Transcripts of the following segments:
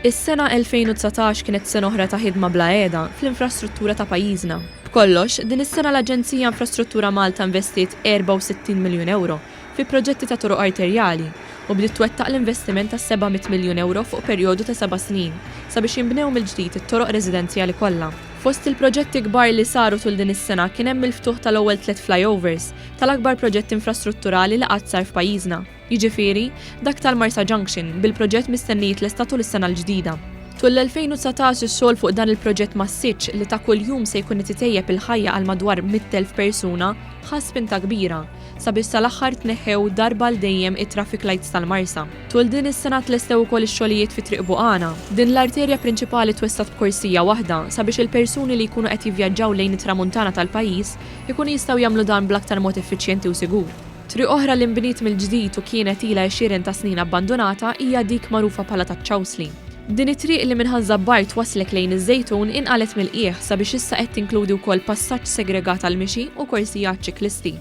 Is-sena 2019 kienet sena oħra ta' ħidma bla għeda fl-infrastruttura ta' pajjiżna. B'kollox, din is-sena l-Aġenzija Infrastruttura Malta investiet 64 miljun ewro fi proġetti ta' toroq arterjali u bdiet twettaq l-investiment ta' 700 miljun ewro fuq perjodu ta' seba' snin sabiex jinbnew mill-ġdid it-toroq residenzjali kollha. Fost il-proġetti kbar li saru tul din is-sena kien hemm il-ftuħ tal-ewwel tliet flyovers, tal-akbar proġett infrastrutturali li qatt sar f'pajjiżna, jiġifieri, dak tal-Marsa Junction, bil-proġett mistenni jitlesta tul is-sena l-ġdida. Tul l-2019 ix-xogħol fuq dan il-proġett massiċċ li ta' kuljum se jkun qed itejjeb il-ħajja għal madwar 100,000 persuna ħa spinta kbira. sabiex sal-aħħar tneħħew darba għal dejjem it-traffic lights tal-Marsa. Tul din is-sena tlestew ukoll ix-xogħlijiet fi Triq Buqana. Din l-arterja prinċipali twessgħet b'korsija waħda sabiex il-persuni li jkunu qed jivvjaġġaw lejn it-Tramuntana tal-pajjiż ikunu jistgħu jagħmlu dan bl-aktar mod effiċjenti u sigur. Triq oħra li nbniet mill-ġdid u kienet ilha għexieren ta' snin abbandunata hija dik magħrufa bħala taċ-Ċawsli. Din it-triq li minn Ħaż Żabbar twasslek lejn iż-Żejtun inqalgħet mill-qiegħ sabiex issa qed tinkludi wkoll passaġġ segregat għall-mixi u korsi għaċ-ċiklisti.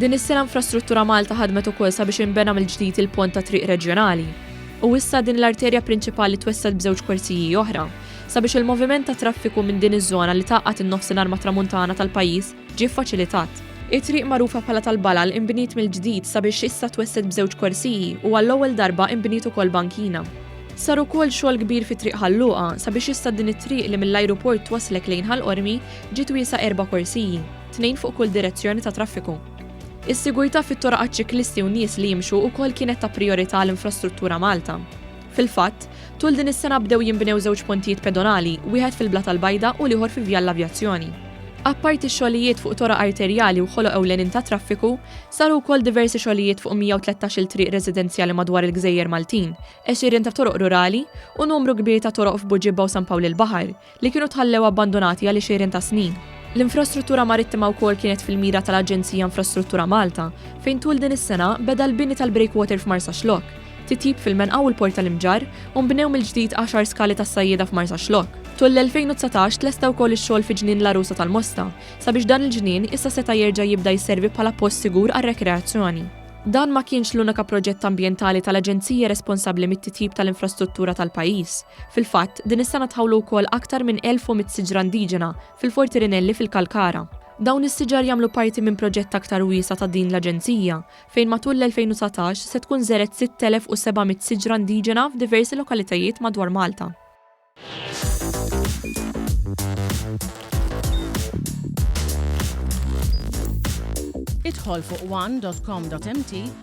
Din is-sena Infrastruttura Malta ħadmet ukoll sabiex inbena mill-ġdid il-pont tat-triq reġjonali. U issa din l-arterja prinċipali twessgħet b'żewġ korsiji oħra sabiex il-moviment tat-traffiku minn din iż-żona li tgħaqqad in-Nofsinhar mat-Tramuntana tal-pajjiż ġie ffaċilitat. It-triq magħrufa bħala tal-Balal inbniet mill-ġdid sabiex issa twessgħet b'żewġ korsiji u għall-ewwel darba inbniet ukoll bankina. Sar ukoll xogħol kbir fi Triq Ħal Luqa sabiex issa din it-triq li mill-ajruport twasslek lejn Ħal Qormi ġiet wiesgħa erba' korsiji, tnejn fuq kull direzzjoni ta' traffiku. Is-sigurtà fit-toroq għaċ-ċiklisti u nies li jimxu ukoll kienet ta' prijorità għal Infrastruttura Malta. Fil-fatt, tul din is-sena bdew jinbnew żewġ pontijiet pedonali, wieħed fil-Blata l-Bajda u l-ieħor fi Vjal l-Avjazzjoni. Apparti x-xogħlijiet fuq toroq arterjali u ħoloq ewlenin tat-traffiku, saru wkoll diversi xogħlijiet fuq 113-il triq residenzjali madwar il-gżejjer Maltin, għexirien ta' toroq rurali u numru kbir ta' toroq f'Buġibba u San Pawl il-Baħar, li kienu tħallew abbandonati għal għexieren ta' snin. L-infrastruttura marittima wkoll kienet fil-mira tal-Aġenzija Infrastruttura Malta, fejn tul din is-sena beda l-bini tal-breakwater f'Marsaxlokk, titjib fil-Menqa u l-Port tal-Imġarr, u nbnew mill-ġdid għaxar skali tas-sajjieda f'Marsaxlokk. Tul l-2019 tlesta wkoll ix-xogħol fi Ġnien l-Għarusa tal-Mosta, sabiex dan il-ġnien issa seta' jerġa' jibda jisservi bħala post sigur għar-rekreazzjoni. Dan ma kienx l-unika proġett ambjentali tal-Aġenzija responsabbli mit-titjib tal-infrastruttura tal-pajjiż. Fil-fatt, din is-sena tħawlu wkoll aktar minn 1,100 siġra indiġena fil-Forti Rinelli fil-Kalkara. Dawn is-siġar jagħmlu parti minn proġett aktar wiesa' ta' din l-Aġenzija, fejn matul l-2019 se tkun żergħet 6,700 siġra indiġena f'diversi lokalitajiet madwar Malta. Idħol fuq one dot com dot mt